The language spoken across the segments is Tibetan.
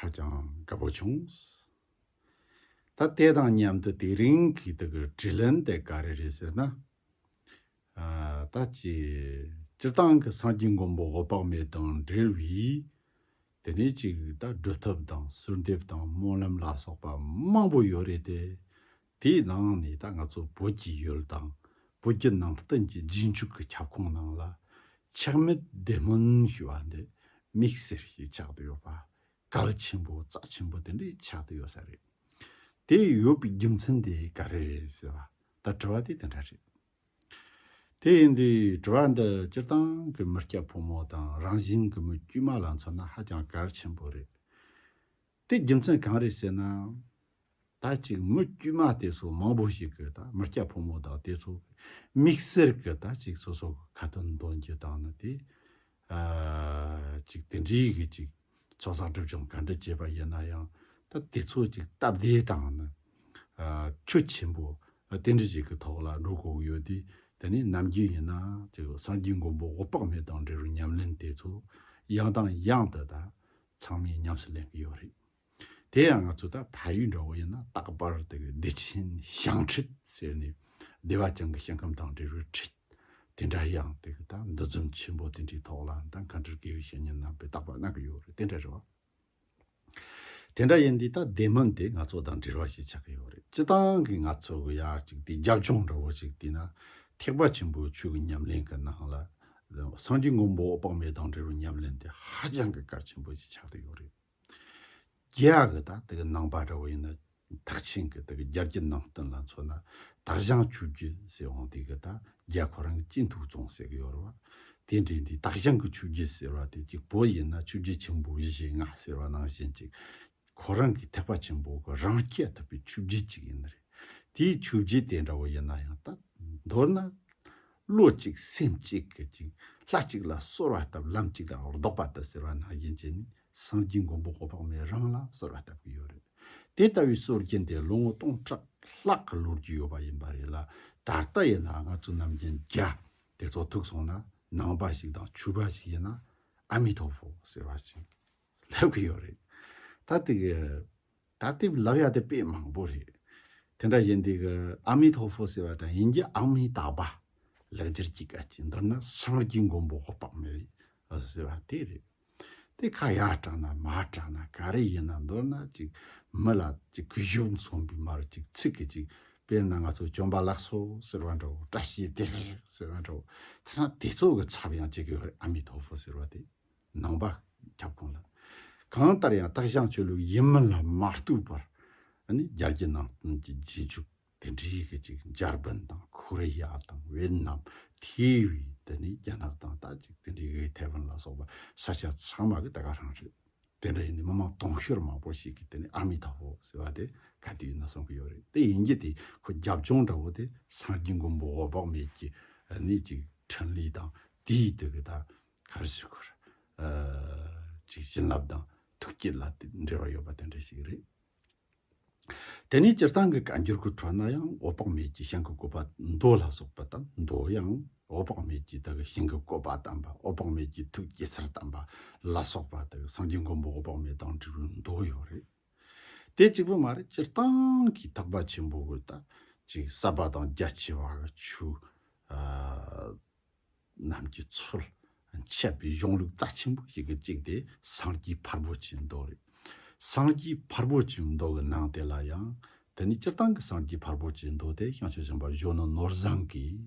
ཧ་ཅང་དགའ་པོ་བྱུང། ད་དེ་དང་མཉམ་དུ་དེ་རིང་གི་དེ་གི་དྲི་ལན་དེ་ག་རེ་རེད་ཟེར་ན། ད་ཅི་སྤྱིར་བཏང་གི་སངས་རྒྱས་མགོན་པོ་འོད་དཔག་མེད་དང་འབྲེལ་བའི་དེ་ནས་ཅིག་ད་སྒྲུབ་ཐབས་དང་གསོལ་འདེབས་དང་སྨོན་ལམ་ལ་སོགས་པ་མང་པོ་ཡོད་རེད་དེ། དེའི་ནང་ནས་ད་ང་ཚོ་བོད་ཀྱི་ཡུལ་དང་བོད་ཀྱི་ནང་བསྟན་གྱི་རྗེས་འཇུག་གི་ཁྱབ་ཁོངས་ནང་ལ། ཆགས་མེད་བདེ་སྨོན་ཞུ་བ་འདི་དམིགས་བསལ་ཞིག་ཆགས་དུ་ཡོད་པ། གལ་ཆེན་པོ་རྩ་ཆེན་པོ་དེ་འདྲས་ཆགས་དུ་ཡོད་ས་རེད། དེ་ཡོད་པའི་རྒྱུ་མཚན་དེ་ག་རེ་རེད་ཟེར་བ་ད་དྲི་བ་དེ་དེ་འདྲ་རེད། དེ་ཡིན་དུས་དྲི་བ་འདི་སྤྱིར་བཏང་གི་མི་སྐྱ་ཕོ་མོ་དང་རང་བཞིན་གྱི་མི་དཀྱུས་མ་ལ་མཚོན་ན་ཧ་ཅང་གལ་ཆེན་པོ་རེད། དེའི་རྒྱུ་མཚན་གང་རེད་ཟེར་ན། ད་ཅིག་མི་དཀྱུས་མ་དེ་ཚོ་མང་པོ་ཞིག་གི་ད་མི་སྐྱ་ཕོ་མོ་དག་དེ་ཚོ་གི་མིག་སེར་གི་ད་ཅིག་སོ་སོ་གི་ཁ་དོན་འདོན་རྒྱུ་དང་ནི་དེ། ཅིག་དེ་འདྲའི་གི་ཅིག་ཚོགས་བསགས་སྒྲུབ་སྦྱོང་ག་འདྲ་བྱས་པ་ཡིན་ན་ཡང་ད་དེ་ཚོ་ཅིག་སྟབས་བདེ་དང་ནི། ཆུ་ཆེན་པོ་དེ་འདྲ་ཞིག་གི་ཐོག་ལ་འགྲོ་དགོས་ཡོད་དུས་དེ་ནི་ནམ་རྒྱུན་ཡིན་ན་ཅིག་སངས་རྒྱུས་མགོན་པོ་འོད་དཔག་མེད་དང་འབྲེལ་བའི་ཉམས་ལེན་དེ་ཚོ་ཡང་དང་ཡང་དུ་ད་ཚང་མས་ཉམས་སུ་ལེན་གྱི་ཡོད་རེད། དེ་ཡང་ང་ཚོ་ད་ཕ་ཡུལ་འདྲ་བོ་ཡིན་ན་རྟག་པར་དེ་ག་བདེ་ཆེན་ཞང་ཁྲིད་ཟེར་ནས་བདེ་བ་ཅན་གྱི་ཞིང་ཁམས་དང་འབྲེལ་བའི་ཁྲིད་དེ་འདྲ་ཡང་དེ་ག་ད་འདུ་འཛོམས་ཆེན་པོ་དེ་འདྲའི་ཐོག་ལ་ད་ག་འདྲར་དགེ་བའི་བཤེས་གཉེན་རྣམ་པས་རྟག་པར་གནང་གི་ཡོད་རེད་དེ་འདྲ་རེད་བ། དེ་འདྲ་ཡིན་དུས་ད་བདེ་སྨོན་དེ་ང་ཚོ་དང་འབྲེལ་བ་ཞིག་ཆགས་ཀྱི་ཡོད་རེད་སྤྱི་བཏང་གི་ང་ཚོ་གི་ཡག་ཅིག་དེ་རྒྱབ་ལྗོངས་འདྲ་བོ་ཞིག་དེ་ན་ཐེག་པ་ཆེན་པོའི་ཆོས་ཀྱི་ཉམས་ལེན་གྱི་ནང་ལ་སངས་རྒྱས་མགོན་པོ་དཔག་མེད་དང་འབྲེལ་བའི་ཉམས་ལེན་དེ་ཧ་ཅང་གི་གལ་ཆེན་པོ་ཞིག་ཆགས་ཏེ་ཡོད་རེད། རྒྱལ་ཡག་གི་དག་དེ་གི་ནང་པ་འདྲ་བོ་ཡིན་ན་ཐག་ཆེན་གི་དེ་གི་རྒྱལ་གྱི་ནང་བསྟན་ལ་མཚོན་ན་དག་བཞེངས་ཆུ་རྒྱུན་ཟེར་འོང་དེ་གི་དག་རྒྱལ་ཁོ་རང་གི་སྤྱི་འཐུས་བཙོང་ཟེར་གི་ཡོད་རེད་བ། དེ་འདྲའི་དེ་དག་བཞེངས་གི་ཆུ་རྒྱུན་ཟེར་བ་དེ་གཅིག་བོད་ཡིན་ན་ཆུ་རྒྱུན་ཆེན་པོ་བཞི་ལྔ་ཟེར་བ་ནང་བཞིན་ཅིག་ཁོ་རང་གི་ཐེག་པ་ཆེན་པོ་གི་རང་སྐྱེ་ཐུབ་པའི་ཆོས་བརྒྱུད་ཅིག་ཡིན་ནི་རེད། དེའི་ཆོས་བརྒྱུད་དེ་འདྲ་བོ་ཡིན་ན་ཡང་དག་མདོར་ན། བློ་གཅིག་སེམས་གཅིག་གིས་ཅིང་ལྷ་གཅིག་ལ་གསོལ་བ་བཏབ་ལམ་གཅིག་ལ་ལྡོག་པ་དུ་ཟེར་བ་ནང་བཞིན་བྱས་ནས་སངས་རྒྱས་མགོན་པོ་ཧོ་དཔག་མེད་རང་ལ་གསོལ་བ་བཏབ་ཀྱི་ཡོད་རེད། དེ་ལྟ་བུའི་སྲོལ་རྒྱུན་དེ་ལོ་ངོ་སྟོང་ཕྲག་ལྷག་གི་ལོ་རྒྱུས་ཡོད་པ་ཡིན་པ་རེད་ལ་ད་ལྟ་ཡིན་ན་ང་ཚོ་རྣམས་རྒྱན་རྒྱ་དེ་ཚོ་ཐུག་སོང་ན་ནང་པ་ཞིག་དང་ཆོས་པ་ཞིག་ཡིན་ན་ཨ་མི་ཐོ་ཧྥོ་ཟེར་བ་ཞིག། སླེབས་ཀྱི་ཡོད་རེད། ད་འདི་གི། ད་འདི་བ་ལབ་ཡ་དེ་དཔེ་མང་པོ་རེད། དེ་འདྲ་ཞིག་འདི་གི་ཨ་མི་ཐོ་ཧྥོ་ཟེར་བ་དང་ཡིན་གྱི་ཨ་མི་ཏཱ་བྷ། ལེགས་སྦྱར་གྱི་སྐད་ཅིག་མདོར་ན་སངས་རྒྱས་མགོན་པོ་ཧོ་པག་མེད། ཟེར་བ་དེ་རེད། དེ་ཁ་ཡར་དྲངས་ན་མར་དྲངས་ན་ག་རེ་ཡིན་ན་མདོར་ན་ཅིག་མི་ལ་ཅིག་གུས་ཞབས་མཚོན་པའི་མ་རུ་ཅིག་ཚིག་གི་ཅིག་དཔེར་ན་ང་ཚོ་བྱོན་པ་ལགས་སོ་ཟེར་བ་འདྲ་བོ་བཀྲ་ཤིས་བདེ་ལེགས་ཟེར་བ་འདྲ་བོ་དེ་འདྲ་དེ་ཚོ་གི་ཚབ་ཡང་བྱེད་ཀྱི་ཡོད་རེད་ཨ་མི་ཐོ་ཧྥོ་ཟེར་བ་དེ། ནང་པ་ཁྱབ་ཁོངས་ལ་གང་ལྟར་ཡང་སྟག་ཞང་ཆོས་ལུགས་ཡིན་མིན་ལ་མ་ལྟོས་པར་རྒྱ་རྒྱལ་ནང་བསྟན་གྱི་རྗེས་འཇུག་དེ་འདྲའི་གི་ཅིག་འཇར་པན་དང་ཁོ་རེ་ཡ་དང་ཝེད་ནམ་ཐེ་བི་དེ་ནི་རྒྱ་ནག་དང་ད་ཅིག་དེ་འདྲའི་གི་ཐེ་ཝན་ལ་སོགས་པ་ས་ཆ་ཚང་མ་གི་དེ་ག་རང་རེད་དེ་འདྲ་ཡིན་ནི་མི་མང་དུང་ཤོར་མང་པོ་ཞིག་གི་དེ་ནི་ཨ་མི་ཐ་བོ་ཟེར་བ་དེ་ག་དུས་ཡིན་ན་གསུང་གི་ཡོད་རེད་དེ་ཡིན་གྱི་དེ་ཁོ་རྒྱབ་ལྗོངས་འདྲ་བོ་དེ་སངས་རྒྱས་མགོན་པོ་འོད་དཔག་མེད་ཀྱི་ནི་ཅིག་ཕྲིན་ལས་དང་དེའི་དེ་གི་ད། གར་བྱེད་སྐོར་ཅིག་བྱིན་རླབས་དང་ཐུགས་བསྐྱེད་ལ་འབྲེལ་བ་ཡོད་པ་དེ་འདྲ་ཞིག་རེད། དེ་ནས་སྤྱིར་བཏང་གི་བཀའ་འགྱུར་གྱི་ཁྲོད་ན་ཡང་འོད་དཔག་མེད་ཀྱིས་ཤིང་གི་བཀོད་པ་མདོ་ལ་སོགས་པ་དང་མདོ་ཡང་འོད་དཔག་མེད་ཀྱིས་དག་གི་ཤིང་གི་བཀོད་པ་དམ་པ་འོད་དཔག་མེད་ཀྱི་ཐུགས་བསྐྱེད་སར་དམ་པ་ལ་སོགས་པ་དག་སངས་རྒྱས་མགོན་པོ་འོད་དཔག་མེད་དང་འབྲེལ་བའི་མདོ་ཡོད་རེད། དེ་གཅིག་པུ་མ་རེད་སྤྱིར་བཏང་གི་འཐག་པ་ཆེན་པོ་དག་ཅིག་གསར་པ་དང་རྒྱ་ཆེ་བ་གི་ཆུ་རྣམས་ཀྱི་ཚུལ་འཆད་པའི་གཞུང་ལུགས་རྩ་ཆེན་པོ་ཞིག་གི་གཅིག་དེ་སངས་རྒྱས་ཕར་བོ་ཆེའི་མདོ་རེད། སངས་རྒྱས་ཕར་བོ་ཆེའི་མདོ་གི་ནང་དེ་ལ་ཡང་དེ་ནི་སྤྱིར་བཏང་གི་སངས་རྒྱས་ཕར་བོ་ཆེའི་མདོ་དེ་ཤངས་ཆོས་གཞན་པར་གཞོན་ནུ་ནོར་བཟང་གིས་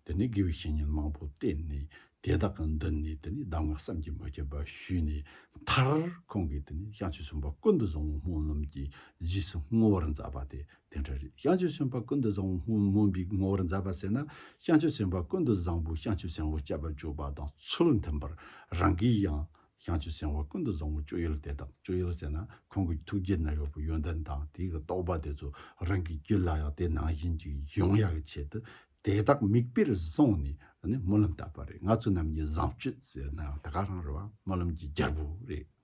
དེ་ནི་དགེ་བའི་བཤེས་གཉེན་མང་པོ་བསྟེན་ནས་དེ་དག་གི་མདུན་ནས་དེ་ནི་གདམས་ངག་བསམ་གྱིས་མི་ཁྱབ་པ་ཞུས་ནས་མཐར་ཁོང་གིས་དེ་ནི་ཤངས་ཆོས་གཞོན་པ་ཀུན་ཏུ་བཟང་བོ་སྨོན་ལམ་གྱི་རྗེས་སུ་བསྔོ་བར་མཛད་པ་དེ་དེ་འདྲ་རེད་བྱང་ཆུབ་སེམས་དཔའ་ཀུན་ཏུ་བཟང་བོ་སྨོན་པའི་ངོ་བོར་མཛད་པ་ཟེར་ན་བྱང་ཆུབ་སེམས་དཔའ་ཀུན་ཏུ་བཟང་བོས་བྱང་ཆུབ་སེམས་དཔའ་སྤྱད་པར་འཇུག་པ་དང་ཚུལ་མཐུན་པར་རང་གིས་ཡང་བྱང་ཆུབ་སེམས་དཔའ་ཀུན་ཏུ་བཟང་བོའི་སྤྱོད་ཡུལ་དེ་དག་སྤྱོད་ཡུལ་ཟེར་ན་ཁོང་གི་ཐུགས་རྗེ་ན་ཡོད་པའི་ཡོན་ཏན་དང་དེའི་རྟོགས་པ་དེ་ཚོ་རང་གི་རྒྱུད་ལ་ཡང་དེ་ནང་བཞིན་གྱི་ཡོང་ཡག་གི་ཆེད་དུ་དེ་དག་མིག་དཔེར་བཟུང་ནས་སྨོན་ལམ་བཏབ་པ་རེད་ང་ཚོ་རྣམས་ཀྱི་བཟང་སྤྱོད་ཟེར་ན་ཡང་ད་ག་རང་རེད་བ་སྨོན་ལམ་གྱི་རྒྱལ་པོ་རེད།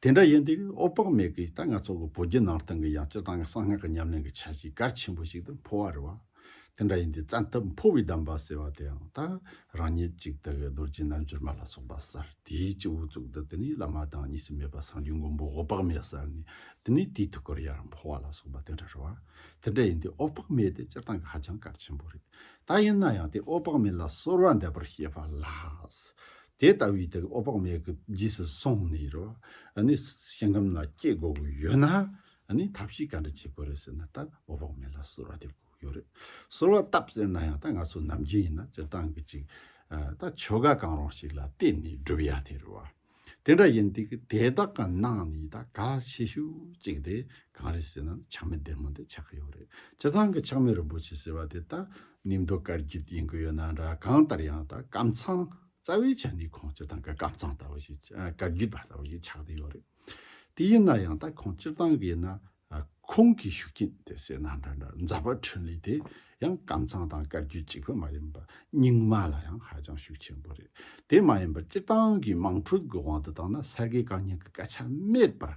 དེ་འདྲ་ཡིན་དུས་ཨོ་པག་མེག་གིས་ད་ང་ཚོ་གི་བོད་བརྒྱུད་ནང་བསྟན་གྱི་ཡང་སྤྱིར་བཏང་གི་གསང་སྔགས་ཀྱི་ཉམས་ལེན་གྱི་ཆ་ཞིག་གལ་ཆེན་པོ་ཞིག་ཏུ་འཕོ་བ་རེད་བ། དེ་འདྲ་ཡིན་དུས་བཙན་ཐབས་འཕོ་བའི་གདམས་པ་ཟེར་བ་དེའང་ད་རང་ཉིད་ཅིག་དག་གི་རྡོ་རྗེ་རྣལ་འབྱོར་མ་ལ་སོགས་པ་གསར་དུས་ཀྱི་དབུ་གཙུག་ཏུ་དེ་ནས་བླ་མ་དང་གཉིས་སུ་མེད་པ་སངས་རྒྱས་མགོན་པོ་ཨོ་པག་མེག་གསར་ནས་དེ་ནས་དེའི་ཐུགས་ཀར་ཡར་འཕོ་བ་ལ་སོགས་པ་དེ་འདྲ་རེད་བ། དེ་འདྲ་ཡིན་དུས་ཨོ་པག་མེག་དེ་སྤྱིར་བཏང་གི་ཧ་ཅང་གལ་ཆེན་པོ་རེད། ད་ཡིན་ན་ཡང་དེ་ཨོ་པག་མེག་ལ་གསོལ་བ་འདེབས་པར་བཤད་པ་ལགས། དེ་ལྟ་བུའི་དེ་ཨོ་དཔག་མེད་ཀྱི་རྗེས་སུ་སོང་ནས་རོ། ནི་ཞིང་ཁམས་ན་སྐྱེ་དགོས་པ་ཡོད་ན། ནི་ཐབས་ཤིག་ག་འདྲ་བྱེད་དགོས་རེད་ཟེར་ན་ད་ཨོ་དཔག་མེད་ལ་གསོལ་བ་འདེབས་དགོས་ཡོད་རེད། གསོལ་བ་བཏབ་ཟེར་ན་ཡང་ད་ང་ཚོ་ནམ་རྒྱུན་ཡིན་ན་སྤྱིར་བཏང་གི་ཅིག། ད་ཆོ་ག་གང་རུང་ཞིག་ལ་བལྟས་ནས་བསྒྲུབ་ཡ་དེ་རེད་བ། དེ་འདྲ་ཡིན་དུས་ཀྱི་དེ་དག་གི་ནང་ནས་ད་ག་ལ་ཆེ་ཤོས་ཅིག་དེ་གང་རེད་ཟེར་ན་ཆགས་མེད་བདེ་མོ་དེ་ཆགས་ཀྱི་ཡོད་རེད། སྤྱིར་བཏང་གི་ཆགས་མེད་རིན་པོ་ཆེ་ཟེར་བ་དེ་ད་ནི་མདོ་དཀར་རྒྱུད་ཡིན་གྱི་ཡོད་ན་འདྲ་གང་ལྟར་ཡང་དག་སྐམ་ཚང་རྩ་བའི་ཆ་ནི་ཁོང་སྤྱིར་བཏང་གི་སྐམ་ཚང་ལྟ་བུ་ཞིག་དཀར་རྒྱུད་པ་ལྟ་བུ་ཞིག་ཆགས་བསྡད་ཡོད་རེད། དེ་ཡིན་ན་ཡང་དག་ཁོང་སྤྱིར་བཏང་གི་ཡིན་ན་ཁོང་གི་ཤུགས་རྐྱེན་དེ་སེར་ནག་འདྲ་འདྲ་མཛའ་བ་འཕྲིན་ལས་དེ་ཡང་སྐམ་ཚང་དང་དཀར་རྒྱུད་གཅིག་པུ་མ་ཡིན་པར་རྙིང་མ་ལ་ཡང་ཧ་ཅང་ཤུགས་ཆེན་པོ་རེད། དེ་མ་ཡིན་པར་སྤྱིར་བཏང་གི་དམངས་ཁྲོད་ཀྱི་དབང་དུ་བཏང་ན་ས་དགེ་བཀའ་རྙིང་གི་སྐད་ཆ་མེད་པར་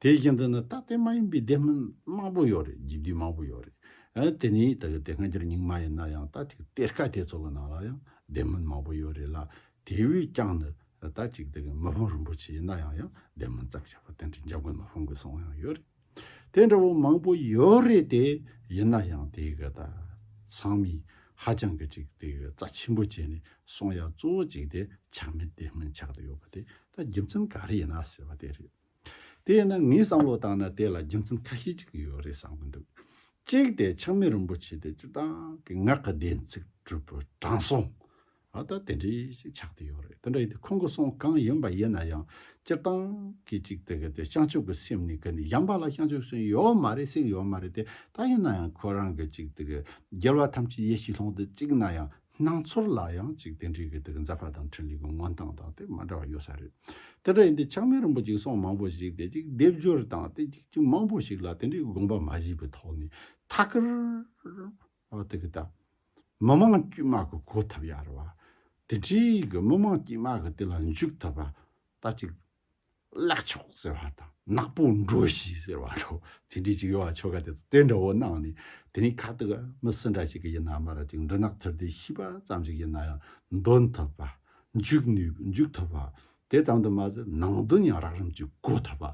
དེ་བཞིན་དུ་ནི་ད་ལྟའི་མ་ཡིན་པའི་སྡེ་མིན་མང་པོ་ཡོད་རེད་འཇིག་དུས་མང་པོ་ཡོད་རེད། དེ་ནི་ད་གི་དེ་སྔ་འགྱུར་རྙིང་མ་ཡིན་ན་ཡང་ད་ཅིག་གཏེར་ཁ་དེ་ཚོ་གི་ནང་ལ་ཡང་སྡེ་མིན་མང་པོ་ཡོད་རེད་ལ་དེ་བས་ཀྱང་ནི་ད་ཅིག་ད་གི་མི་ཕང་རིན་པོ་ཆེ་ཡིན་ན་ཡང་ཡང་སྡེ་མིན་ཙམ་བྱས་པ་དེ་འདྲའི་འཇམ་དགོས་མི་ཕང་དགོས་སོང་ཡང་ཡོད་རེད། དེ་འདྲ་བོ་མང་པོ་ཡོད་རེད་དེ་ཡིན་ན་ཡང་དེ་གི་ད་ཚང་མས་ཧ་ཅང་གི་ཅིག་དེ་གི་རྩ་ཆེན་པོ་བྱས་ནས་སོང་ཡ་གཙོ་བོ་ཅིག་དེ་ཆག་མེད་སྡེ་མིན་ཆག་དུ་ཡོད་པ་དེ་ད་རྒྱུ་མཚན་ག་རེ་ཡིན་ན་ཟེར་བ་དེ་རེད། དེས་ན་ངས་བསམ་བློ་བཏང་ན་དེ་ལ་རྒྱུ་མཚན་ཁ་ཤས་ཅིག་ཡོད་རེད་བསམ་གྱི་འདུག་གཅིག་དེ་ཆགས་མེད་རིན་པོ་ཆེ་དེ་སྤྱིར་བཏང་གི་ངག་གི་བདེན་ཚིག་གྲུབ་པོ་དྲང་སྲོང་ཨ་ད་དེ་འདྲས་ཤིག་ཆགས་ཏེ་ཡོད་རེད་དེ་འདྲ་ཡིན་དུས་ཁོང་གི་གསུང་གང་ཡིན་པ་ཡིན་ན་ཡང་སྤྱིར་བཏང་གི་ཅིག་དེ་གི་དེ་བྱང་ཆུབ་ཀྱི་སེམས་ནི་གི་ནི་ཡངས་པ་ལ་བྱང་ཆུབ་སེམས་ཡོད་མ་རེད་སེམས་ཡོད་མ་རེད་དེ་ད་ཡིན་ན་ཡང་ཁོ་རང་གི་ཅིག་དེ་གི་རྒྱལ་བ་ཐམས་ཅད་ཡེ་ཤེས་ལྷུན་གྲུབ་ཅིག་ན་ཡང་སྣང་ཚོར་ལ་ཡང་གཅིག་རྟེན་འབྲེལ་གྱི་དེ་གི་འཛག་པ་དང་འཕྲིན་ལས་ཀྱི་མངོན་སྟངས་དང་དེ་མ་འདྲ་བ་ཡོད་ས་རེད། དེ་འདྲ་ཡིན་དུས་ཆགས་མེད་རིན་པོ་ཆེའི་གསུང་མང་པོ་ཞིག་དེ་གཅིག་སྡེབ་སྦྱོར་དང་དེ་གཅིག་གཅིག་མང་པོ་ཞིག་ལ་དེ་འདྲའི་དགོངས་པ་མ་བཞེས་པའི་ཐོག་ནས་ཐ་ཀར་བ་དེ་གི་ད་མི་དམངས་དཀྱུས་མ་གི་གོ་ཐབས་ཡར་བ་དེ་འདྲའི་གི་མི་དམངས་དཀྱུས་མ་གི་དེ་ལ་འཇུག་ཐུབ་པ་ད་གཅིག་བརླག་ཆོག་ཟེར་བ་དང་ནག་པོ་འགྲོ་ཞིག་ཟེར་བ་འདྲ་བོ་དེ་འདྲའི་ཅིག་ཡོད་བ་ཆོ་ག་དེ་ཚོ་དེ་འདྲ་བོ་གནང་ནས་དེ་རིང་ཁ་ཐུག་མི་སུ་འདྲ་ཞིག་གི་ཡིན་ནའང་མ་རེད་ཅིག་འབྲུ་ནག་ཐུར་དེ་ཤི་བ་ཙམ་ཞིག་ཡིན་ན་ཡང་འདོན་ཐུབ་པ། འཇུག་ནུས་འཇུག་ཐུབ་པ། དེ་ཙམ་དུ་མ་ཟད་ནང་དོན་ཡང་རགས་རིམ་གྱིས་གོ་ཐུབ་པ།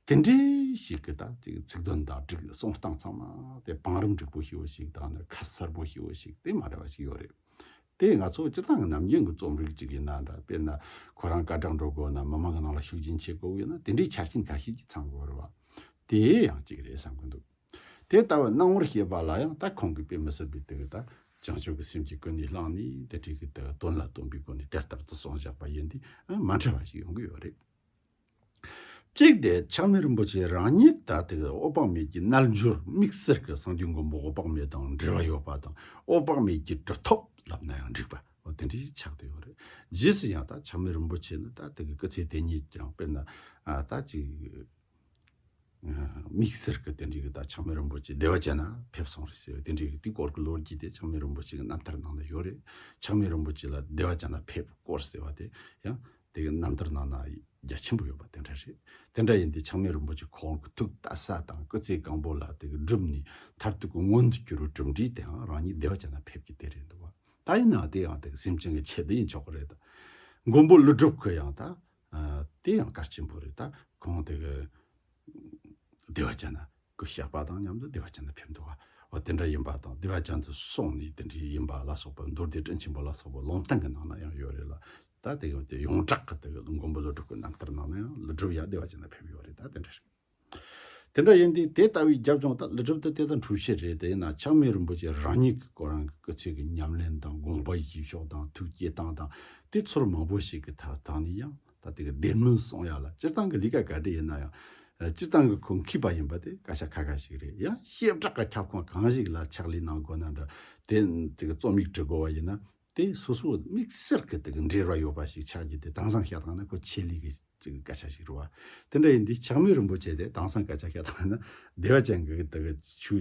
དེ་འདྲའི་ཞིག་གི་ད་ཅིག་ཚིག་དོན་དང་སྒྲིག་གསུང་སྟངས་ཚང་མ་དེ་བང་རིམ་འགྲིག་པོ་ཞིག་བོ་ཞིག་དང་ནི་ཁ་གསལ་པོ་ཞིག་བོ་ཞིག་དེ་མ་འདྲ་བ་ཞིག་ཡོད་རེད། དེས་ང་ཚོ་སྤྱིར་བཏང་གི་ནམ་རྒྱུན་གྱི་རྩོམ་རིག་ཅིག་ཡིན་ན་འདྲ། དཔེར་ན། ཁོ་རང་སྐད་གྲགས་འགྲོ་དགོས་ན་མི་མང་གི་ནང་ལ་ཤུགས་རྐྱེན་ཆེ་དགོས་ཡོད་ན་དེ་འདྲའི་ཆ་རྐྱེན་ག་ཤེད་ཀྱིས་ཚང་དགོས་རེད་བ། དེ་ཡང་གཅིག་རེད་བསམ་གྱི་འདུག། དེ་ལྟ་བུའི་སྣང་ངོར་ཤེས་པ་ལ་ཡང་ད་ཁོང་གིས་དཔེ་མི་སྲིད་པའི་དུས་ད་བྱང་ཆུབ་ཀྱི་སེམས་ཀྱི་སྐུ་ནས་བླངས་ནས་དེ་འཕྲལ་གྱི་དོན་ལ་སྟོན་པའི་སྒོ་ནས་དེ་ལྟར་དུ་གསུངས་བཞག་པ་ཡིན་དུས་མ་འཕྲད་པ་ཞིག་ཡོང་གི་ཡོད་རེད། གཅིག་དེ་ཆགས་མེད་རིན་པོ་ཆེ་རང་ཉིད་ད་ལྟའི་ཨོ་དཔག་མེད་ཀྱི་རྣལ་འབྱོར་དམིགས་བསལ་གྱི་གསང་འདུས་མགོན་པོ་ཨོ་དཔག་མེད་དང་འབྲེལ་བ་ཡོད་པ་དང་ཨོ་དཔག་མེད་ཀྱི་གྲུབ་ཐོབ་ལབ་ན་ཡང་འགྲིག་པ་འོ་དེ་འདྲའི་ཆགས་དེ་ཡོད་རེད། རྗེས་སུ་ཡང་ད་ཆགས་མེད་རིན་པོ་ཆེ་ནི་ད་ལྟའི་སྐུ་ཚེ་དེ་ཉིད་ཀྱང་དཔེར་ན་ད་ཅིག། དམིགས་བསལ་གྱི་དེ་འབྲེལ་གྱི་བརྡ་ཆགས་མེད་རིན་པོ་ཆེ་བདེ་བ་ཅན་ལ་ཕེབས་སོང་རེད་ཟེར་བའི་དེ་འབྲེལ་གྱི་དུས་སྐོར་གྱི་ལོ་རྒྱུས་དེ་ཆགས་མེད་རིན་པོ་ཆེ་གྱི་རྣམ་ཐར་ནང་ན་ཡོད་རེད་ཆགས་མེད་རིན་པོ་ཆེ་ལ་བདེ་བ་ཅན་ལ་ཕེབས་སྐོར་ཟེར་བ་དེ་ཡང་དེ་གི་རྣམ་ཐར་ནང་ན་རྒྱ་ཆེན་པོ་ཡོད་པ་དེ་འདྲ་རེད་དེ་འདྲ་ཡིན་དུས་ཆགས་མེད་རིན་པོ་ཆེ་ཁོང་གི་ཐུགས་བལྟ་ས་དང་སྐུ་ཚེ་གང་པོ་ལ་དེ་གི་བསྒྲུབས་ནས་མཐར་ཐུག་གི་མངོན་དུ་གྱུར་བའི་གྲུབ་འབྲས་དེའང་རང་ཉིད་བདེ་བ་ཅན་ལ་ཕེབས་ཀྱི་དེ་རེད་འདུག་བ་ད་ཡིན་ནའང་དེ་ཡང་དེ་གི་སེམས་ཅན་གྱི་ཆེད་དུ་ཡིན་ཆོག་གི་རེད་ད་མགོན་པོ་ཀླུ་སྒྲུབ་ཁོས་ཡང་ད་དེ་ཡང་སྐར་ཆེན་པོ་རེད་ད་གོང་དེ་གི་བདེ་བ་ཅན་ན་གི་གཤེགས་པ་དང་མཉམ་དུ་བདེ་བ་ཅན་དུ་ཕེབས་འདུག་བ་འོ་དེ་འདྲ་ཡིན་པ་དང་བདེ་བ་ཅན་དུ་སོང་ནས་དེ་འདྲའི་ཡིན་པ་ལ་སོགས་པ་མདོར་བསྡུས་སྤྲིན་ཆེན་པོ་ལ་སོགས་པ་ལུང་སྟེང་གི་ནང་ན་ཡང་ཡོད་རེད་ལ་ད་དེ་གི་ཡོངས་གྲགས་ཀྱི་དེ་གི་མགོན་པོ་ཀླུ་སྒྲུབ་ཀྱི་རྣམ་ཐར་ནང་ན་ཡང་ཀླུ་སྒྲུབ་ཡང་བདེ་བ་ཅན་དུ་ཕེབས་ཡོད་རེད་ད་དེ་འདྲ་རེད། དེ་འདྲ་ཡིན་ཏེ་དེ་ལྟ་བུའི་རྒྱབ་ལྗོངས་དག་ལི་ཁྲིམས་ཏི་ཏའི་དང་གྲུབ་བྱེད་རེད་དེ་ན་ཆགས་མེད་རིན་པོ་ཆེ་རང་ཉིད་ཀྱི་སྐོར་རང་གི་སྐུ་ཚེ་གི་ཉམས་ལེན་དང་དགོངས་པ་ཡིད་ཕྱོགས་དང་ཐུགས་བསྐྱེད་སྟངས་དང་དེ་ཚོར་མང་པོ་ཞིག་གི་ཐག་ཐག་ནས་ཡང་ད་དེ་ག་བདེན་མིན་གསུངས་ཡག་ལ་སྤྱིར་བཏང་གི་ལི་ཀ་ག་འདྲི་ཡིན་ན་ཡང་སྤྱིར་བཏང་གི་ཁུངས་འཁྱིལ་པ་ཡིན་པ་དེ་བཀའ་ཤག་ཁ་ཁ་ཞིག་རེད་ཡང་བཤད་བསྒྲགས་གི་ཁྱབ་ཁོངས་གང་ཞིག་ལ་ཕྱག་ལས་གནང་དགོས་ན་འདྲ་དེ་དེ་ག་རྩོམ་ཡིག་བྲི་དགོས་བ་ཡིན་ན། དེ་སོ་སོའི་དམིགས་བསལ་གྱི་དེ་གི་འབྲེལ་བ་ཡོད་པ་ཞིག་ཆགས་རྒྱུ་དེ་དྭངས་སང་ཤ་དང་ན་ཁོ་ཆེད་ལས་ཀྱི་ཅིག་གི་སྐད་ཆ་ཞིག་རུ་བ། དེ་འདྲ་ཡིན་དུས་ཕྱག་མོས་རིན་པོ་ཆེ་དེ་དྭངས་སང་སྐད་ཆ་ཤ་དང་ན་བདེ་བ་ཅན་གྱི་དེ་གི་ཆུ་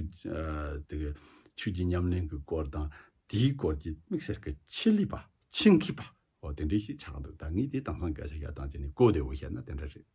དེ་གི་ཆུ་ཀྱི་ཉམས་ལེན་གྱི་སྐོར་དང་དེའི་སྐོར་གྱི་དམིགས་བསལ་གྱི་ཆེད་ལས་པ་ཆིང་ཁི་པའོ་དེ་འདྲས་ཞིག་ཆགས་འདུག་ད་ངས་དེ་དྭངས་སང་སྐད་ཆ་ཤ་དང་ཅི་ནས་གོ་བདེ་བོ་བཤད་ན་དེ་འདྲ་རེད།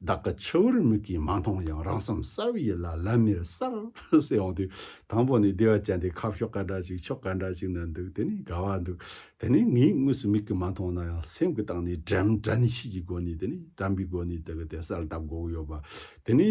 བདག་གི་ཕྱི་བོར་མིག་གིས་མ་མཐོང་ཡང་རང་སེམས་གསལ་བོ་ཡིད་ལ་ལམ་མེར་གསལ་བོ་འོང་དུས་དང་པོ་ནས་བདེ་བ་ཅན་དེ་ཁ་ཕྱོགས་ག་འདྲ་ཞིག་ཕྱོགས་ག་འདྲ་ཞིག་ན་འདུག་དེ་ནི་དགའ་བ་འདུག་དེ་ནི་ངས་དངོས་སུ་མིག་གིས་མ་མཐོང་ན་ཡང་སེམས་ཀྱིས་བརྟགས་ནས་དྲན་བྲན་ཤེས་ཀྱི་སྒོ་ནས་དེ་ནི་དྲན་པའི་སྒོ་ནས་དེ་ག་དེ་གསལ་བཏབ་དགོས་ཀྱི་ཡོད་པ་དེ་ནི།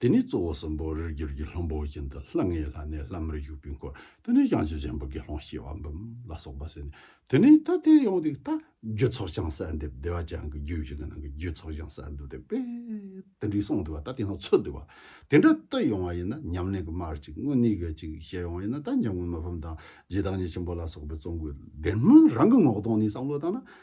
དེ་ནས་གཙོ་བོ་གསུམ་པོ་རིར་གྱུར་གྱི་ལྷུན་པོ་བཞིན་དུ་ལྷ་ལྔའི་ལྷ་ནི་ལྷ་མིར་བཞུགས་པའི་འཁོར་དེ་ནས་བྱང་ཆུབ་ཆེན་པོ་དགེ་སློང་ཤེས་བ་འབུམ་ལ་སོགས་པ་ཟིན། དེ་ནས་ད་ལྟའི་ཡོངས་འདུས་རྟ་རྒྱུད་ཚོགས་བྱང་གསར་འདེབས་བདེ་བ་ཅན་གྱི་རྒྱུད་བཞི་གི་ནང་གི་རྒྱུད་ཚོགས་བྱང་གསར་འདུ་འདེབས་པས་དེ་འདྲའི་གསུང་འདུལ་བ་ད་ལྟའི་ནང་ཚུད་འདུལ་བ་དེ་འདྲ་ལྟོས་ཡོང་བ་ཡིན་ན་ཉམས་ལེན་གྱི་མར་གཅིག་དངོས་གནས་གལ་ཆེ་ཞེས་ཡོང་བ་ཡིན་ན་ད་འཇམ་མགོན་མི་ཕམ་དང་རྗེ་བདག་ཉིད་ཆེན་པོ་ལ་སོགས་པའི་གཙོ་འགོད་འདེམས་སྨོན་རང་གི་ངོ་གདོང་ནས་བསམ་བློ་བཏང་ན་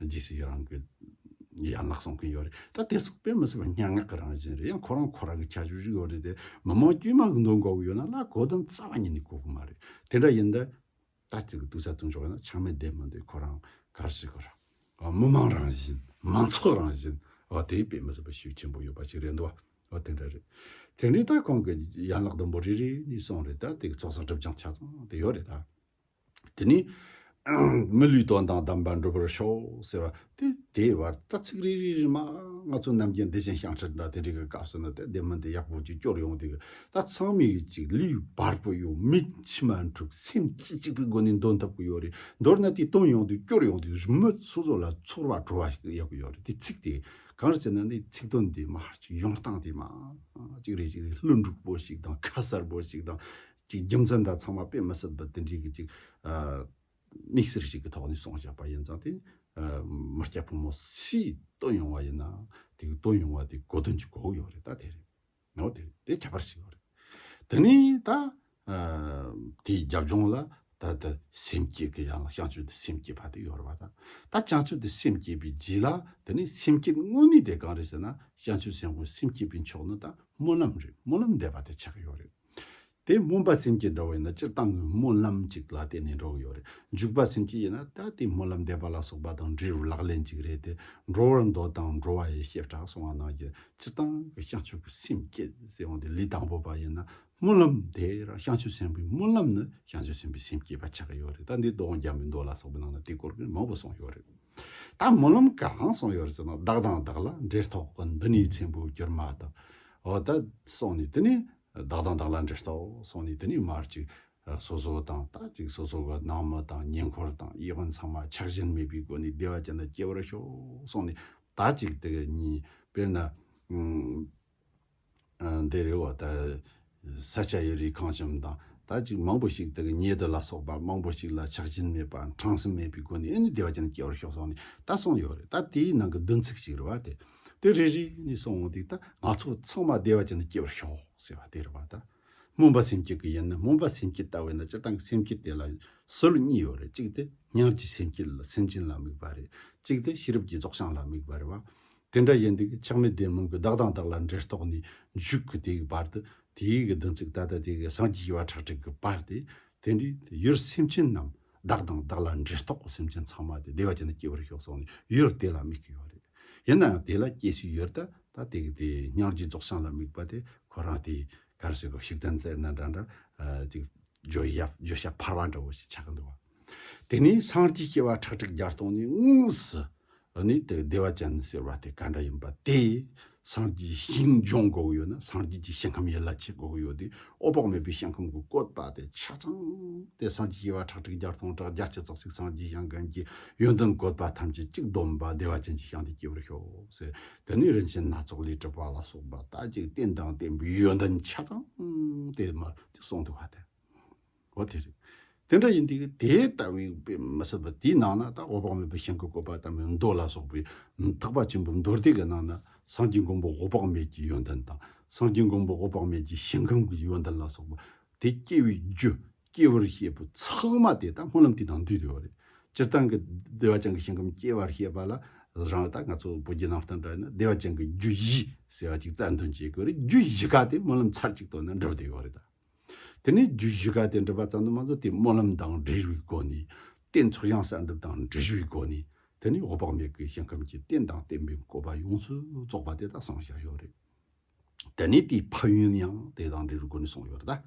ཇི་སྲིད་རང་གི་ཡན་ལག་སྲོང་གིན་ཡོད་རེད་ད་དེ་སྲོག་པས་མི་སྲིད་པ་སྙན་ངག་གི་རང་བཞིན་རེད་ཡང་ཁོ་རང་ཁོ་རང་གི་ཁྱད་ཆོས་ཤིག་ཡོད་རེད་དེ་མི་མང་དཀྱུས་མ་གི་མདུན་གོ་གི་ཡོད་ན་ལ་གོ་དོན་རྩ་བ་ཉིད་ནས་གོ་གི་མ་རེད་དེ་འདྲ་ཡིན་ད་ལྟ་ཁྱོད་ཀྱི་དུག་ས་དུག་འཇོག་ཡོད་ན་ཆང་མེད་བདེ་མི་འདུག་ཁོ་རང་གར་ཞིག་གོ་རང་མི་མང་རང་བཞིན་མང་ཚོགས་རང་བཞིན་དེའི་དཔེ་མི་སྲིད་པ་ཤུགས་ཆེན་པོ་ཡོད་པ་ཞིག་རེད་འདུག་བ་དེ་འདྲ་རེད་དེ་འདྲའི་ད་ཁོང་གི་ཡན་ལག་དུམ་བུ་རེ་རེ་ནས་སྲོང་རེད་ད་དེ་གི་ཚོགས་བསགས་སྒྲུབ་སྦྱང་ཆ་ཚང་དེ་ཡོད་རེད་ད། དེ་ནས། མི་ལུས་དོན་དང་ལྡན་པར་འགྲུབ་པར་ཤོག་ཟེར་བ་སྟེ་དེའི་བར་ད་ཚིག་རེ་རེ་རེ་མ། ང་ཚོ་རྣམས་ཀྱིས་བདེ་ཆེན་ཤངས་ཁྲག་འདྲ་དེ་འདྲའི་སྐབས་སུ་ནི་དད་ལྡན་མི་འདི་ཡག་པོ་ཅིག་སྐྱོར་ཡོང་དེ་གི་ད་ཚང་མས་ཅིག་ལུས་བར་པོ་ཡོང་མིག་མཆི་མ་འཁྲུག་སེམས་རྩེ་གཅིག་པའི་སྒོ་ནས་འདོན་ཐུབ་གི་ཡོད་རེད་མདོར་ན་དེ་བཏོན་ཡོང་དེ་སྐྱོར་ཡོང་དེ་རི་མོ་སོ་སོ་ལ་ཚོར་བ་བྲོ་བ་ཞིག་ཡོད་གི་ཡོད་རེད་དེ་ཚིག་དེ་གང་རེད་ཟེར་ན་ནི་ཚིག་དོན་དེ་མ་ཧར་གྱི་ཡོང་སྟངས་དེ་མ། ཅིག་རེ་ཅིག་རེ་ལྷུན་འགྲུག་པོ་ཞིག་དང་ཁ་གསར་པོ་ཞིག་དང། གཅིག་རྒྱུ་མཚན་དག་ཚང་མ་དཔེ་མི་སྲིད་པ་དེ་འདྲའི་གི་ཅིག་དམིགས་བསལ་ཞིག་གི་ཐོག་ནས་གསུངས་བཞག་པ་ཡིན་ཙང་དེ་མི་སྐྱ་ཕོ་མོ་སུས་བཏོན་ཡོང་བ་ཡིན་ནའང་དེ་གི་བཏོན་ཡོང་བ་དེ་གོ་དོན་གཅིག་གོ་ཡོད་རེད་ད་དེ་རེད་ནའོ་དེ་རེད་དེ་ཁྱད་པར་ཞིག་ཡོད་རེད་དེ་ནས་ད་དེའི་རྒྱབ་ལྗོངས་ལ་ད་དེ་སེམས་བསྐྱེད་གི་ཡང་བྱང་ཆུབ་དེ་སེམས་བསྐྱེད་པ་དེ་ཡོད་རེད་པ་ད་ད་བྱང་ཆུབ་དེ་སེམས་བསྐྱེད་པའི་རྗེས་ལ་དེ་ནས་སེམས་བསྐྱེད་དངོས་གནས་དེ་གང་རེད་ཟེར་ན་བྱང་ཆུབ་སེམས་དབང་སེམས་བསྐྱེད་པའི་མཆོག་ནི་ད་སྨོན་ལམ་རེད་སྨོན་ལམ་འདེབས་པ་དེ་ཆགས་ཡོད་རེད། དེ་སྨོན་པ་སེམས་ཀྱིས་འགྲོ་བས་ན་སྤྱིར་བཏང་གི་སྨོན་ལམ་ཅིག་ལ་བརྟེན་ནས་འགྲོ་གི་ཡོད་རེད། འཇུག་པ་སེམས་ཀྱིས་ཡིན་ན་ད་ལྟའི་སྨོན་ལམ་འདེབས་པ་ལ་སོགས་པ་དང་འབྲེལ་བའི་ལག་ལེན་ཅིག་རེད་དེ། འགྲོ་བར་འདོད་དང་འགྲོ་བ་ཡི་ཤེས་བྲག་སོང་བ་ན་གྱི་སྤྱིར་བཏང་གི་བྱང་ཆུབ་ཀྱི་སེམས་བསྐྱེད་ཟེར་བ་འདི་ལས་དང་པོ་བ་ཡིན་ན་སྨོན་ལམ་དེ་རང་བྱང་ཆུབ་སེམས་དཔའི་སྨོན་ལམ་ནི་བྱང་ཆུབ་སེམས་དཔའི་སེམས་བསྐྱེད་པ་ཆགས་ཀྱི་ཡོད་རེད་ད་འདིའི་མདོ་དབང་རྒྱ་མི་མདོ་ལ་སོགས་པའི་ནང་ན་དེ་སྐོར་གྱི་མང་པོ་གསུངས་ཡོད་རེད། ད་སྨོན་ལམ་གང་སོང་ཡོད་རེད་ཟེར་ན་བདག་དང་བདག་ལ་འབྲེལ་ཐོག་གི་འདི་ནས་མཆན་བུ་བསྒྱུར་མ་ཐག་འོ་ད་སོང་ནས་དེ་ནས་བདག་དང་བདག་ལ་འབྲེལ་ཐོག་སོང་ནས་དེ་ནས་མར་ཅིག་སོ་སོ་དང་ད་ཅིག་སོ་སོ་གི་ནང་མི་དང་ཉེ་འཁོར་དང་དབྱེ་བ་ཚང་མ་ཆགས་ཞེན་མེད་པའི་སྒོ་ནས་བདེ་བ་ཅན་དུ་སྐྱེ་བར་ཤོག་སོང་ནས་ད་ཅིག་དེ་གཉིས་དཔེར་ན། འདི་རི་བོ་དང་ས་ཆ་ཡི་རིགས་གང་བྱུང་དང་དག་ཅིག་མང་པོ་ཞིག་དག་ཉེ་དུ་ལ་སོགས་པ་མང་པོ་ཞིག་ལ་ཆགས་ཞེན་མེད་པ་འཕྲང་སེམས་མེད་པའི་སྒོ་ནས་ནི་བདེ་བ་ཅན་སྐྱེ་བར་ཤོག་སོགས་ནས་ད་གསུངས་ཡོད་རེད་ད་དེའི་ནང་གི་བདུན་ཚིགས་ཤིག་རེད་བ་དེ་དེ་རེ་རེ་ནས་སོང་ངོ་དེ་ད་ང་ཚོ་ཚང་མ་བདེ་བ་ཅན་དུ་སྐྱེ་བར་ཤོག་ཟེར་བ་དེ་རེད་བ་ད་སྨོན་པ་སེམས་བསྐྱེད་ཀྱི་ཡིན་ན་སྨོན་པ་སེམས་བསྐྱེད་ལྟ་བས་ན་སྤྱིར་བཏང་གི་སེམས་བསྐྱེད་དེ་ལ་སྲོལ་གཉིས་ཡོད་རེད་གཅིག་དེ་ཉམས་ཀྱི་སེམས་བསྐྱེད་ལ་སེམས་ཅན་ལ་དམིགས་པ་རེད་གཅིག་དེ་ཤེས་རབ་ཀྱི་རྫོགས་བྱང་ལ་དམིགས་པ་རེད་བ་དེ་འདྲ་ཡིན་དུས་ཆགས་མེད་བདེན་མིན་གྱི་བདག་དང་བདག་ལ་འབྲེལ་རྟོག་ནས་འཇུག་གི་དེའི་བར་དུ་དེའི་གི་བདུན་ཚིགས་ད་ལྟ་དེ་གི་སངས་རྒྱས་ཞེས་པ་ཁྲག་ཁྲིག་གི་བར་ཏེ། དེ་འདྲའི་ཡུལ་སེམས་ཅན་རྣམས་བདག་དང་བདག་ལ་འབྲེལ་རྟོག་སེམས་ཅན་ཚང་མ་དེ་བདེ་བ་ཅན་དུ་སྐྱེ་བར་ཤོག་སོགས་ནས་ཡུལ་དེ་ལ་དམིགས་ཀྱི་ཡོད་རེད། ཡིན་ནའང་དེ་ལ་སྐྱེ་སྲིད་ཡོད་ད་ད་དེ་གི་དེ་སྙིང་རྗེ་རྫོགས་བྱང་ལ་དམིགས་པ་དེ་ཁོ་རང་དེ་གར་སོས་གོ་ཞིག་དོན་ཟེར་ན་འདྲ་འདྲ་ཅིག་བརྗོད་བྱ་བརྗོད་བྱ་འཕར་བ་འདྲ་བོ་ཞིག་ཆགས་ཀྱི་འདུག་བ། དེ་ནས་སངས་རྒྱས་སྐྱེ་བ་ཁྲག་ཁྲིག་བརྒྱ་སྟོང་ནི་དངོས་སུ་ནི་དེ་བདེ་བ་ཅན་ཟེར་བ་དེ་ག་འདྲ་ཡིན་པ་དེ། སངས་རྒྱས་ཞིང་སྦྱོང་དགོས་ཡོད་ན་སངས་རྒྱས་ཀྱི་ཞིང་ཁམས་ཡན་ལག་ཕྱེད་དགོས་ཡོད་དེ་ཨོ་བག་མེད་པའི་ཞིང་ཁམས་ཀྱི་བཀོད་པ་དེ་ཆ་ཚང་དེ་སངས་རྒྱས་སྐྱེ་བ་ཁྲག་ཁྲིག་བརྒྱ་སྟོང་ཕྲག་བརྒྱ་སྤྱི་ཙག་ཙིག་སངས་རྒྱས་ཞིང་གང་གི་ཡོན་ཏན་བཀོད་པ་ཐམས་ཅད་གཅིག་བསྡོམས་པ་བདེ་བ་ཅན་གྱི་ཞིང་དེ་སྐྱེ་བར་ཤོག་ཟེར་དེ་ནས་རིན་ཆེན་སྣ་ཚོགས་ལས་གྲུབ་པ་ལ་སོགས་པ་དག་ཅིག་བསྟན་དང་བསྟན་པའི་ཡོན་ཏན་ཆ་ཚང་དེ་མར་གསུངས་འདུག་བ་དེ། འོ་དེ་རེད། དེ་འདྲ་ཡིན་དུས་དེ་ལྟ་བུའི་དཔེ་མི་སྲིད་པ་དེའི་ནང་ན་ད་འོག་དཔག་མེད་པའི་ཞིང་གི་བཀོད་པ་དམ་པའི་མདོ་ལ་སོགས་པའི་དག་པ་ཆེན་པོའི་མདོ་སྡེ་གི་ནང་ན་སངས་རྒྱས་མགོན་པོ་འོག་དཔག་མེད་ཀྱི་ཡོན་ཏན་དང་སངས་རྒྱས་མགོན་པོ་འོག་དཔག་མེད་ཀྱི་ཞིང་ཁམས་ཀྱི་ཡོན་ཏན་ལ་སོགས་པ་དེ་སྐྱེ་བའི་རྒྱུ་སྐྱེ་བར་བཤད་པའི་ཚགས་མ་དེ་དག་སྨོན་ལམ་དེའི་ནང་འདུས་ཡོད་རེད། སྤྱིར་བཏང་གི་བདེ་བ་ཅན་གྱི་ཞིང་ཁམས་སྐྱེ་བར་བཤད་པ་ལ་རང་ལྟ་ང་ཚོ་བོད་བརྒྱུད་ནང་བསྟན་དག་ཡིན་ན་བདེ་བ་ཅན་གྱི་རྒྱུ་བཞི་ཟེར་བ་ཅིག་རྩ་འདོན་བྱེད་དགོས་རེད་རྒྱུ་བཞི་ཁག་དེ་སྨོན་ལམ་ཚར་གཅིག་ཏུ་ནི་འགྲུབ་བསྡད་ཡོད་རེད་ད། དེ་ནས་རྒྱུད་བཞི་ཀ་དེ་འགྲུབ་པ་ཙམ་དུ་མ་ཟད་དེའི་སྨོན་ལམ་དང་འབྲེལ་བའི་སྒོ་ནས། རྟེན་ཚོགས་བྱང་གསལ་འདེབས་དང་འབྲེལ་བའི་སྒོ་ནས། དེ་ནས་འོད་དཔག་མེད་ཀྱི་ཞིང་ཁམས་ཀྱི་རྟེན་དང་བརྟེན་པའི་བཀོད་པ་ཡོངས་སུ་རྫོགས་པ་དེ་དག་གསུངས་བཞག་ཡོད་རེད། དེ་ནས་དེའི་ཕ་ཡུལ་ཡང་དེ་དང་འབྲེལ་བའི་སྒོ་ནས་གསུངས་ཡོད་རེད།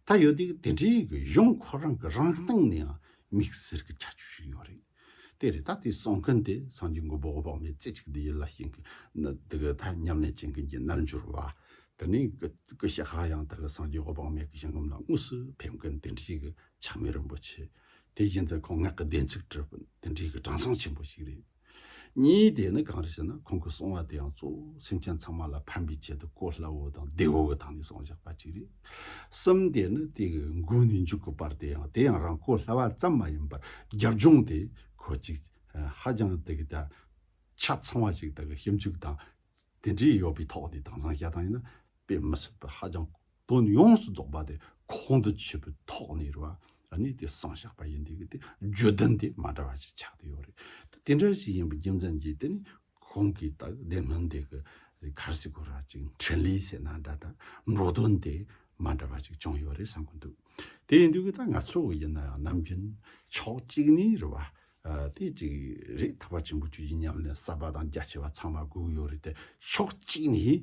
ད་ཡོད་དུས་དེ་འདྲའི་གཞུང་ཁོ་རང་གི་རང་སྟེང་ནའང་དམིགས་བསལ་གྱི་ཁྱད་ཆོས་ཤིག་ཡོད་རེད། དེ་རེད་ད་དེ་གསུང་མཁན་དེ་སངས་རྒྱས་མགོན་པོ་འོག་མའི་རྩེ་གཅིག་དེ་ཡིན་ལ་ཞིང་གི་ད་ཉམས་ལེན་བྱེད་མཁན་གྱི་རྣལ་འབྱོར་བ་དེ་ནི་སྐུ་ཞེ་དགག་ཡང་དག་གི་སངས་རྒྱས་འོག་མའི་གི་ཞིང་ཁམས་ལ་དངོས་སུ་ཕེབས་མཁན་དེ་འདྲའི་གི་ཕྱག་མེད་རིན་པོ་ཆེ་དེ་བཞིན་དུ་ཁོང་སྔགས་ཀྱི་བདེན་ཚིག་བྲི་བ་དེ་འདྲའི་གི་གྲངས་ཚང་ཆེན་པོ་ཞིག་རེད། གཉིས་དེ་ནི་གང་རེད་ཟེར་ན་ཁོང་གི་གསུང་བ་དེའང་གཙོ་བོ་སེམས་ཅན་ཚང་མ་ལ་ཕན་པའི་ཆེད་དུ་གོ་སླ་བོ་དང་བདེ་བོ་གི་ཐང་ནས་གསུང་བཞག་པ་ཅིག་རེད། གསུམ་སྟེ་ནི་དེ་གི་མགུལ་ནས་མཇུག་གི་བར་དེ་ཡང་དེ་ཡང་རང་གོ་སླ་བ་ཙམ་མ་ཡིན་པར་རྒྱབ་ལྗོངས་དེ་གོ་ཅིག་ཧ་ཅང་དེ་གི་ད་ཆ་ཚང་བ་ཞིག་དག་གི་ཞིབ་འཇུག་དང་དེ་འདྲའི་ཡོད་པའི་ཐོག་ནས་དང་བཟང་ཞྭ་དང་ཡིན་ན་དཔེ་མི་སྲིད་པར་ཧ་ཅང་དོན་ཡོངས་སུ་རྫོགས་པ་དེ་ཁོང་དུ་ཆུད་པའི་ཐོག་ནས་རེད་བ་ནི་དེ་གསང་བཞག་པ་ཡིན་དེ་གི་དེ་བརྗོད་དོན་དེ་མ་འདྲ་བ་ཞིག་ཆགས་དེ་ཡོད་རེད་དེ་འདྲ་ཞིག་ཡིན་པའི་རྒྱུ་མཚན་གྱིས་དེ་ནི་ཁོང་གིས་དག་བདེ་སྣང་དེ་གི་རི་ཁར་སི་ཁོ་ར་ཅིག་འཕྲིན་ལས་ཟེར་ན་འདྲ་འདྲ་འགྲོ་དོན་དེ་མ་འདྲ་བ་ཅིག་བྱུང་ཡོད་རེད་བསམ་གི་འདུག་དེ་ཡིན་དུས་ཀྱི་ད་ང་ཚོ་ཡིན་ན་ཡང་ནམ་རྒྱུན་ཕྱོགས་གཅིག་ནས་རི་བ་དེ་ཅིག་རེད་ཐག་པ་ཆེན་པོ་ཅིག་ཡིན་སྙམ་ནས་གསར་པ་དང་རྒྱ་ཆེ་བ་ཚང་མ་སྒུག་ཡོད་རེད་དེ་ཕྱོགས་གཅིག་ནས་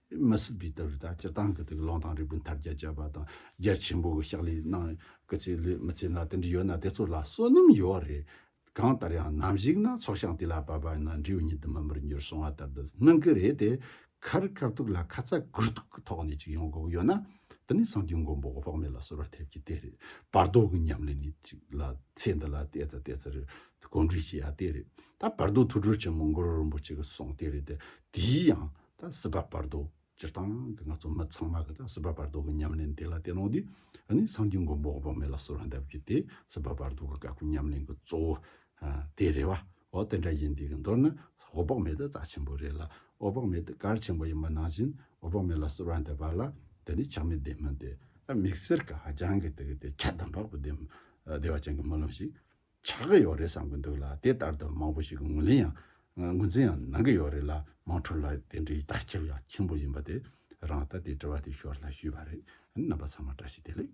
མི་སྲིད་པའི་དུར་བདག་སྤྱི་དང་གི་དུག་རླངས་དང་རིགས་བུ་མཐར་རྒྱ་བསྐྱེད་པ་དང་རྒྱ་ཆེན་པོ་གི་ཕྱག་ལས་གནང་གི་ཚེ་ལས་མི་ཚེ་ན་དེ་འདྲ་ཡོད་ན་དེ་ཚོ་ལ་བསོད་ནམས་ཡོད་བ་རེད། གང་ལྟར་ཡང་ནམ་ཞིག་ན་ཚོགས་ཞིང་དེ་ལ་བབ་པ་ཡིན་ན་འབྲས་བུ་ཉིད་དུ་མི་འབུར་འགྱུར་སོང་བ་ལྟར་དུ་སྣང་གི་རེད་དེ། ཁར་དཀའ་ཐུག་ལ་ཁ་ཚ་དགོས་གཏུག་གི་ཐོག་ནས་ཅིག་ཡོང་དགོས་ཡོད་ན་དེ་ནི་སངས་རྒྱས་མགོན་པོ་དཔག་མེད་ལ་གསོལ་བ་ཐེབས་ཀྱི་དེ་རེད་བར་དོ་གི་ཉམས་ལེན་ནི་ཅིག་ལ་ཚེ་འདི་ལ་བལྟས་དང་བལྟས་ཚར་གོམས་འདྲིས་བྱས་ཡ་དེ་རེད་ད་བར་དོ་ཐུགས་སྒྲུབ་ཆེན་མོ་མགོན་རིན་པོ་ཆེ་གི་གསུང་དེ་རེད་དེ་དེའི་ཡང། ད་སྲིད་པ་བར་དོ་སྤྱིར་བཏང་གི་ང་ཚོ་མི་ཚང་མ་གི་ད་སྲིད་པ་བར་དོ་གི་ཉམས་ལེན་དེ་ལ་བལྟས་ནོ་དུས་ནི་སངས་རྒྱས་མགོན་པོ་འོག་པ་མེ་ལ་སོ་ར་འདབས་ཀྱི་དེ་སྲིད་པ་བར་དོ་གི་དཀའ་ཁུལ་ཉམས་ལེན་གི་གཙོ་བོ་དེ་རེད་བ། འོ་དེ་འདྲ་ཡིན་དུས་གི་མདོར་ན་ཧོ་དཔག་མེད་དུ་རྩ་ཆེན་པོ་རེད་ལ་ཨོ་དཔག་མེད་དུ་གར་ཆེན་པོ་ཡིན་པ་ནང་བཞིན་འོ་དཔག་མེ་ལ་སོ་ར་འདབས་པ་ལ་དེ་ནི་ཆགས་མེད་བདེན་མིན་དེ་དམིགས་བསལ་གི་ཧ་ཅང་གི་དེ་གི་དེ་ཁྱད་དམ་པ་པོ་བདེན་བ་ཅན་གི་སྨོན་ལམ་ཞིག། ཆགས་ཀྱི་ཡོད་རེད་བསམ་གྱི་འདུག་ལ་དེ་ལྟར་དུ་མང་པོ་ཞིག་གི་ངོས་ལེན་ཡང་ངོས་འཛིན་ཡང་གནང་གི་ཡོད་རེད་ལ་མང་ཁྲོ་ལ་དེ་འདྲའི་དར་ཁྱབ་ཡང་ཆེན་པོ་ཡིན་པ་དེ་རང་ལྟ་དེ་དྲི་བ་དེ་ཞོར་ལ་ཞུས་པ་རེད་རྣམ་པ་ཚང་མ་བཀྲ་ཤིས་བདེ་ལེགས།